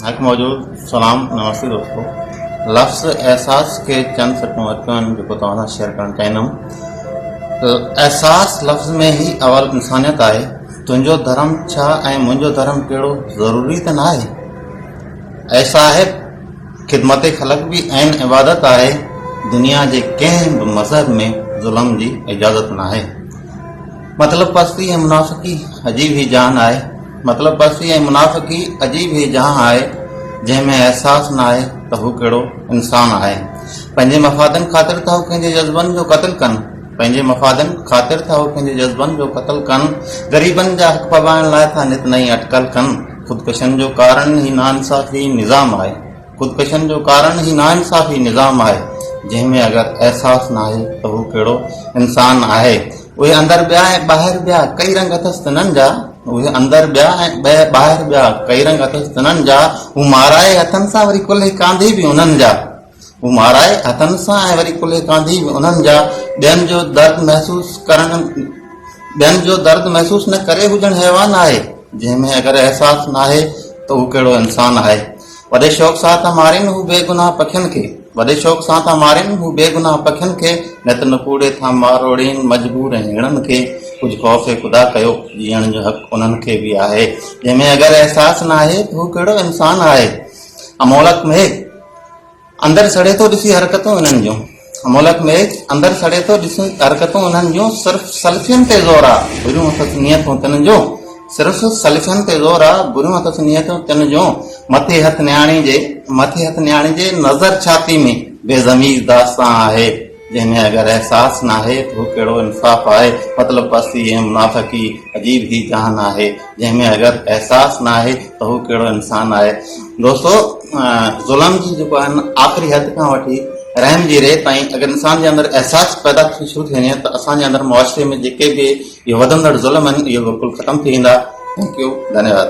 هڪ موجود سلام نمستي دوستو لفظ احساس کي چند سٽون اچيون آهن جيڪو توهان سان شيئر ڪرڻ چاهيندم احساس لفظ ۾ هي اول انسانيت آهي تنهنجو ڌرم ڇا ۽ منهنجو ڌرم ڪهڙو ضروري ته نه آهي اي صاحب خدمت خلق به عين عبادت آهي دنيا جي ڪنهن به مذهب ۾ ظلم جي اجازت نه آهي مطلب پستي ۽ منافقي عجيب هي جان آهي مطلب پسي ۽ منافقي عجيب هي جهان آهي جنهن ۾ احساس نه آهي ته هو ڪهڙو انسان آهي پنهنجي مفادن خاطر ٿا هو ڪنهنجي جذبن جو قتل ڪن پنهنجي مفادن خاطر ٿا هو ڪنهنجي جذبن جو قتل ڪن غريبن جا حق پٻائڻ لاء ٿا نت نئين اٽڪل ڪن خودڪشن جو ڪارڻ هي ناانصافي نظام آهي خودڪشن جو ڪارڻ هي ناانصافي نظام آهي جنهن ۾ اگر احساس نه آهي ته هو ڪهڙو انسان آهي. اهي اندر ٻيا ۽ ٻاهر ٻيا ڪئي رنگ اٿس تنن جا اهي اندر ٻيا ۽ ٻاهر ٻيا ڪئي رنگ اٿس تنن جا هو مارائي هٿن سان وري ڪلهي ڪانڌي به انهن جا هو مارائي هٿن سان ۽ وري ڪلهي ڪانڌي به انهن جا ٻين جو درد محسوس ڪرڻ ٻين جو درد محسوس نه ڪري هجڻ حيوان آهي جنهن ۾ اگر احساس ناهي ته هو ڪهڙو انسان آهي وڏي شوق سان ٿا مارين هو بي گناهه پکين کي وڏي شوق سان ٿا مارين هو بي گناهه پکين کي نت نڪوڙي ٿا ماروڙين مجبور ۽ هيڻن کي ڪجهه خوف خدا ڪيو جيئڻ جو حق انهن کي به آهي جنهن ۾ اگر احساس نه آهي ته هو ڪهڙو انسان آهي امولڪ مهي اندر سڙي ٿو ڏسي حرڪتون انهن جون ملڪ ۾ اندر سڙي ٿو ڏس حرڪتون انهن جون صرف سلفين تي زور آ بريون اٿس نيتون تن جون صرف سلفين تي زور آ بريون اٿس نيتون تن جون مٿي هٿ نياڻي جي مٿي هٿ نياڻي جي نظر ڇاتي ۾ بي ضمير داستان آهي جنهن ۾ اگر احساس ناهي ته هو ڪهڙو انصاف آهي مطلب پستي ۽ منافقي عجيب هي جهان آهي جنهن ۾ اگر احساس نه آهي ته هو ڪهڙو انسان آهي دوستو ظلم جي جيڪو آهن آخري حد کان وٺي رحم جي ري تائين اگر انسان جي اندر احساس پيدا ٿي شروع ٿي وڃي ته اسان جي اندر معاشري ۾ جيڪي به اهي وڌندڙ ظلم آهن اهي بلڪل ختم ٿي ويندا ٿينڪ يو ڌنيواد